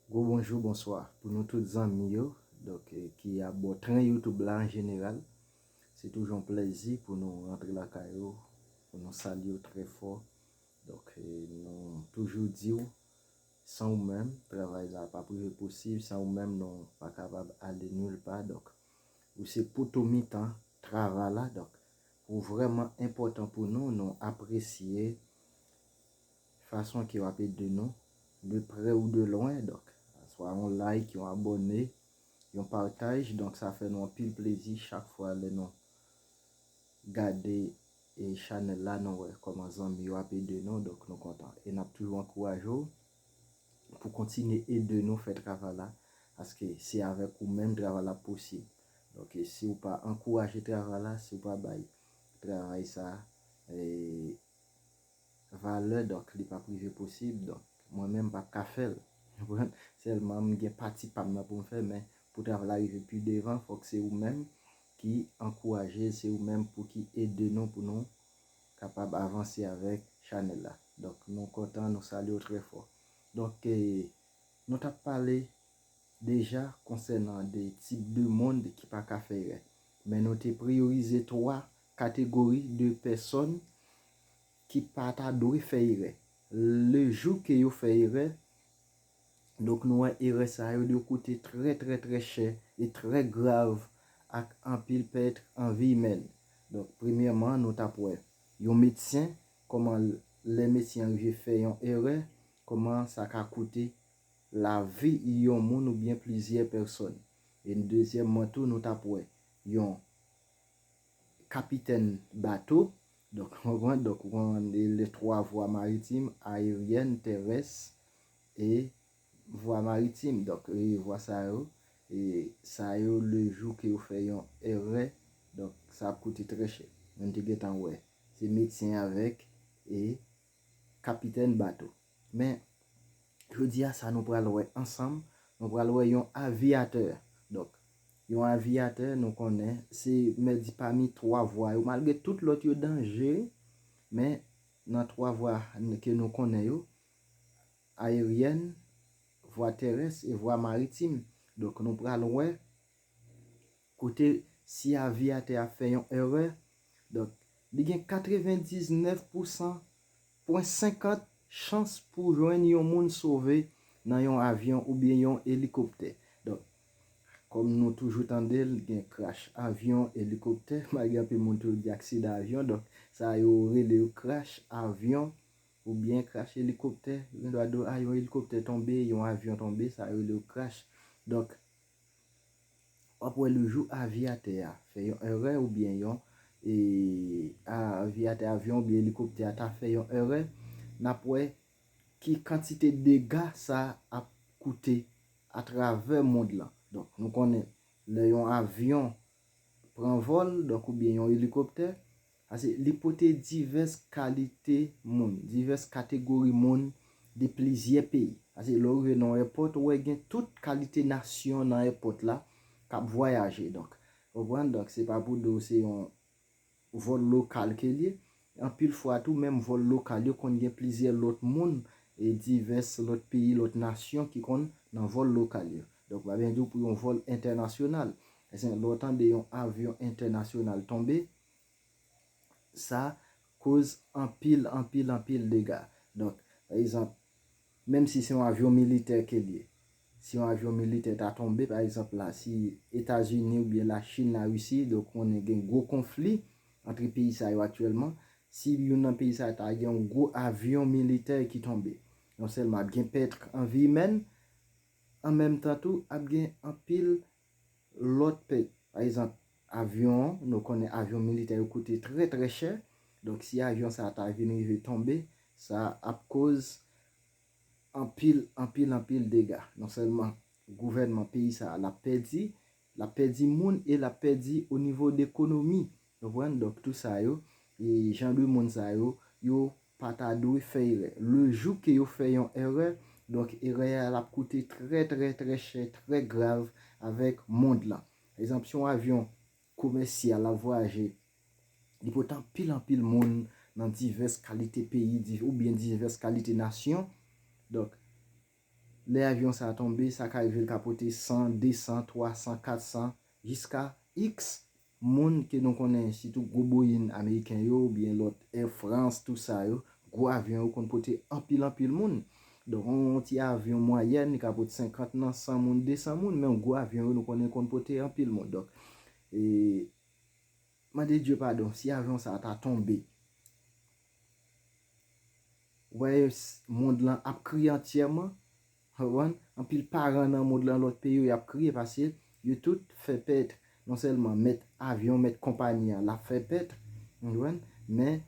Gwo bonjou, bonswa pou nou tout zanmi yo donk ki a bò tren youtube la an jeneral. Se toujou yon plèzi pou nou rantre lakay ou, pou nou salye w trè fò. Donk nou toujou di w san ou menm travay la pap rive posib, san ou menm nou pa kapab ale nil pa donk ou se poto mitan travay la donk ou vrèman enpòtan pou nou, nou apresye. Fason ke wap ede nou, de prè ou de lwen, donk swa yon like, yon abòne, yon pataj, donk sa fè nou anpil plezi chak fwa lè nou gade chanèl la nou wè kòman zanmi yo ap ede nou, donk nou kontan e nap toujou ankouraje w pou kontinye ede nou fè travay la, paske se avèk ou menm travay la ap posib, donk si ou pa ankouraje travay la, si ou pa bay travay sa Valè donk li pap rive posib donk mwen menm pap ka fèl konprann sèlman m gen pati pam nan poum fè men pou travay la rive pi devan fòk se ou menm ki ankourajel se ou menm pou ki ede nou pou nou kapab avanse avèk chanèl la donk nou kontan nou salye w trè fò donk nou tap pale deja konsènan de tip de moun ki pa ka fè erè men nou te priyorize 3 kategori de pèsòn ki pa ta dwe fè erè. Le jou ke yo fè erè, donk nou wè erè sa yo dwe koute trè trè trè chè e trè grav ak anpil pèt an vi imèn. Donk premyèman nou tap wè yon medsen kòman lè medsen an rive fè yon erè kòman sa ka koute lavi yon moun oubyen plizyè pèsòn. E dezyèmman tou nou tap wè yon. Kapitèn bato, donk konprann, donk ou konprann e le 3 vwa maritim, aeryèn, terès e vwa maritim, donk e vwa sa yo, e sa yo le jou ke yo fè yon èrè, donk sa ap koute trè chè. Moun te gentan wè. Se medsen avèk e kapitèn bato. Men, jodi a sa nou pral wè ansanm, nou pral wè yon aviyatè. Donk, yon aviyatè nou konnen se mè di pami 3 vwa yo, malgre tout lòt yo danje, men nan 3 vwa ke nou konnen yo, ayeryèn, vwa terès e vwa maritim. Donk, nou pral wè Kote si aviyatè a fè yon èrè, donk li gen 99 pou 100 pwen 50 chans pou jwenn yon moun sove nan yon avyon oubyen yon elikoptè. Donk, kòm nou toujou tande l, gen krash avyon, elikoptè, malgre anpil moun toujou di aksidan avyon, donk sa yo rele yo krash avyon oubyen krash elikoptè, gen dwa di w a yon elikoptè tonbe, yon avyon tonbe, sa yo rele yo krash. Donk. W ap wè le jou aviyatè a fè yon èrè oubyen yon aviyatè avyon oubyen elikoptè a ta fè yon èrè, n ap wè ki kantite dega sa ap koute atravè mond lan. Donk nou konnen lè yon avyon pran vòl, donk oubyen yon elikoptè, Pase li pote divès kalite moun, divès kategori moun de plizyè peyi. Pase lè ou rive nan yon èpòt, ou wè gen tout kalite nasyon nan èpòt la k ap vwayaje. Donk, ou konprann? Donk, se pa pou di w se yon vòl lokal ke l ye. Anpil fwa tou, menm vòl lokal yo konn gen plizyè lòt moun, e divès lòt peyi, lòt nasyon ki konn nan vòl lokal yo. Donk, m pa byen di w pou yon vòl entènasyonal. Lè w tande yon avyon entènasyonal tonbe, Sa koz anpil, anpil, anpil dega. Donk, pa egzanp, menm si se yon avyon militè ke l ye, si yon avyon militè ta tonbe, pa egzanp la, si Etazini oubyen Lachin, Larisi, donk konnen gen gwo konfli antre peyi sa yo aktyèlman, si youn nan peyi sa yo ta gen yon gwo avyon militè ki tonbe, non sèlman ap gen pètr an vi imèn, an menm tan tou, ap gen anpil lòt peyi. Pa ezanp, avyon, nou konnen avyon militè yo koute trè trè chè, donk si avyon sa a ta vin rive tonbe, sa ap koz anpil, anpil, anpil dega. Non sèlman gouvènman peyi sa a l ap pèdi, l ap pèdi moun e l ap pèdi onivo dekonomi Konprann? Donk tou sa yo, e jan de moun sa yo, yo pa ta dwe fè erè. Le jou ke yo fè yon erè, donk erè a l'ap koute trè trè trè chè, trè grav avèk mond lan. Pa egzanp, si yon avyon komèsyal l'ap vwayaje, li pote anpil anpil moun nan divès kalite peyi, di, oubyen divès kalite nasyon, donk lè avyon sa a tonbe, sa ka rive li ka pote 100, 200, 300, 400, jiska iks Moun ke nou konnen sitou gwo boyin ameriken yo ou byen lòt air france tou sa yo gwo avyon yo konn pote anpil anpil moun donk yon yon ti avyon mwayèn li ka pot 50 nan 100 moun 200 moun men yon gwo avyon yo nou konnen konn pote anpil moun donk ee mande Dye padon si avyon sa ta tonbe wè mond lan ap kriye antyèman Hwawon, anpil paran nan mond lan lòt peyi yo yap kriye pase yo tout fè pèt non sèlman mèt avyon mèt konpani an lap fè pèt ou konprann men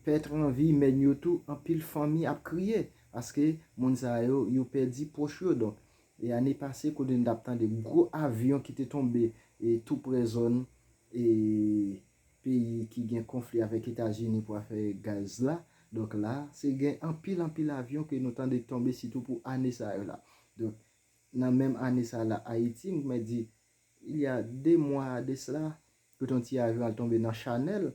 pèt an vi mèn yo tou anpil fanmi ap kriye paske moun sa yo yo pèdi pwòch yo donk e ane pase kote nou tap tande gwo avyon ki te tonbe e tou prè zòn e peyi ki gen konfli avèk etazini pou afè gaz la, donk la se gen anpil anpil avyon ke nou tande tonbe sitou pou ane sa yo la, donk nan menm ane sa la ayiti m mè di il ya 2 mwa a de sla kote yon ti avyon al tonbe nan chanèl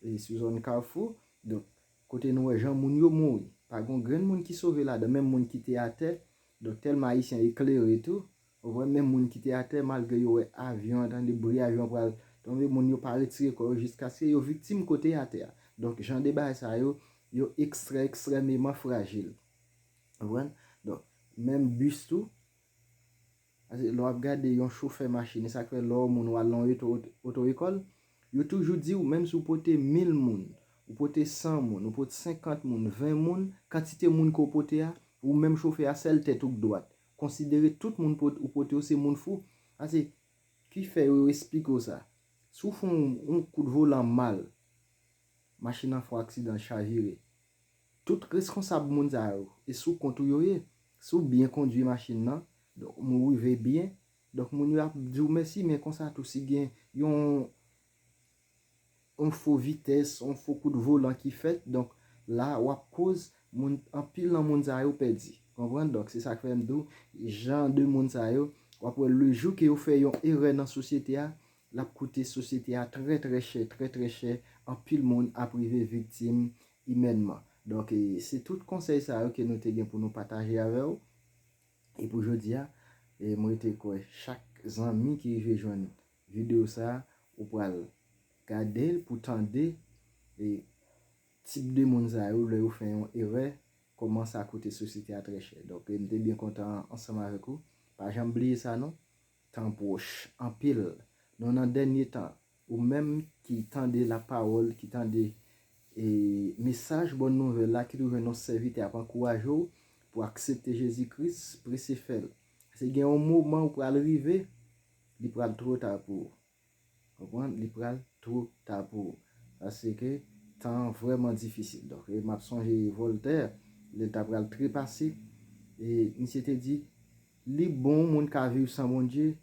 e sou zòn kafou, donk kote nou wè jan moun yo mouri pa gon grenn moun ki sove ladan menm moun ki te atè, donk tèlman ayisyen eklere tou Ou wè men moun ki te atè malgre yo wè avyon an tande bri avyon an pral tonbe moun yo pa retire kò yo jiskaske yo viktim kote atè a. Donk jan de bagay sa yo, yo ekstrè ekstrèmeman frajil. Ou konprann? Donk menm bis tou, pase lè w ap gade yon chofè machin e sa k fè lè w ou moun w al nan yon oto oto ekòl, yo toujou di w menm si w pote 1000 moun, ou pote 100 moun, ou pot 50 moun, 20 moun, kantite moun ke w pote a, ou menm chofè a sèl tèt ou k dwat, Konsidere tout moun ou pote yo se moun fou. Sa se ki fè yo esplike w sa. Si w fon yon kout volan mal, machin nan fon aksidan l chavire. Tout reskonsab moun sa yo, e sou kont ou yo ye. Si w byen kondwi machin nan, donk ou rive byen, donk moun yo ap di w mèsi men konsa tou si gen yon on fo vitès, on fo kout volan ki fèt, donk la ou ap koz moun, anpil nan moun sa yo pèdi, konprann, donk se sa k fè m di w jan de moun sa yo, w ap wè le jou ke yo fè yon erè nan sosyete a, l ap koute sosyete a trè trè chè, trè trè chè, anpil moun ap rive viktim imènman. Donk e se tout konsèy sa yo ke nou te gen pou nou pataje avè w, e pou jodi a, e m rete kwè chak zanmi ki rive jwenn Video sa ou pral gadel pou tande e tip de moun sa yo lè yo fè yon erè kòman sa koute sosyete a trè chè donk m te byen kontan ansanm avèk ou pa janm bliye sa non tan pwòch anpil nou nan dènye tan ou menm ki tande la pawòl ki tande e mesaj bòn nouvèl la ki twouve nou sèvitè ap ankouraje w pou aksepte Jezi Kris prese fèl pase gen yon moman ou pral rive. Li pral two ta pou ou. Konprann? Li pral two ta pou ou. Paske tan an vrèman difisil. Donk, m ap sonje Vòltè, lè l ta pral trepase, e misye te di, Li bon moun ka viv san Bondye,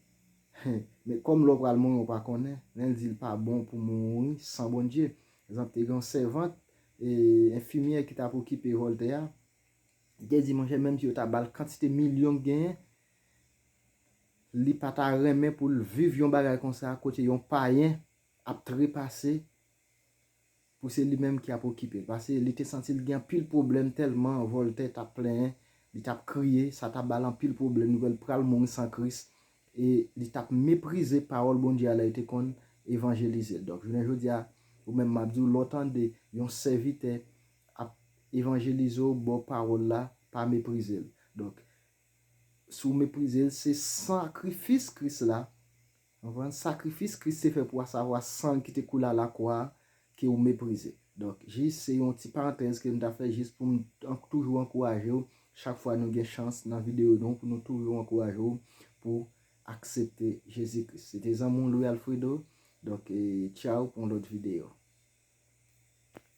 hen, men kòm lè w pral mouri ou pa konnen, men l di l pa bon pou mouri san Bondye. Egzanp, te gen yon sèvant, e, enfimyè ki t ap okipe Vòltè a, li te di, Monchè, menmsi yo ta ba l kantite milyon ki genyen, Li pa ta renmen pou l viv yon bagay konsa kote yon payen ap trepase pou se li menm ki ap okipe l. Pase li te santi l gen anpil pwoblèm tèlman Voltè t ap plenyen, li t ap kriye, sa t ap ba l anpil pwoblèm, li wè l pral mouri san Kris e li t ap meprize pawòl Bondye a lè l te konn evanjelize l. Donk, jounen jodi a, ou menm m ap di w, lè w tande yon sèvitè ap evanjelize w ba w pawòl la, pa meprize l. Donk, Si w meprize l, se sakrifis Kris la, konprann, sakrifis Kris te fè pou asavwa san l ki te koule alakwa a, ke w meprize. Donk, jis se yon ti parantèz ke m ta fè jis pou m toujou ankouraje w chak fwa nou gen chans nan videyo nou pou nou toujou ankouraje w pou w aksepte Jezi Kris. Se te zanmi w Louis Alfredo, donk, tchaw pou yon lòt videyo.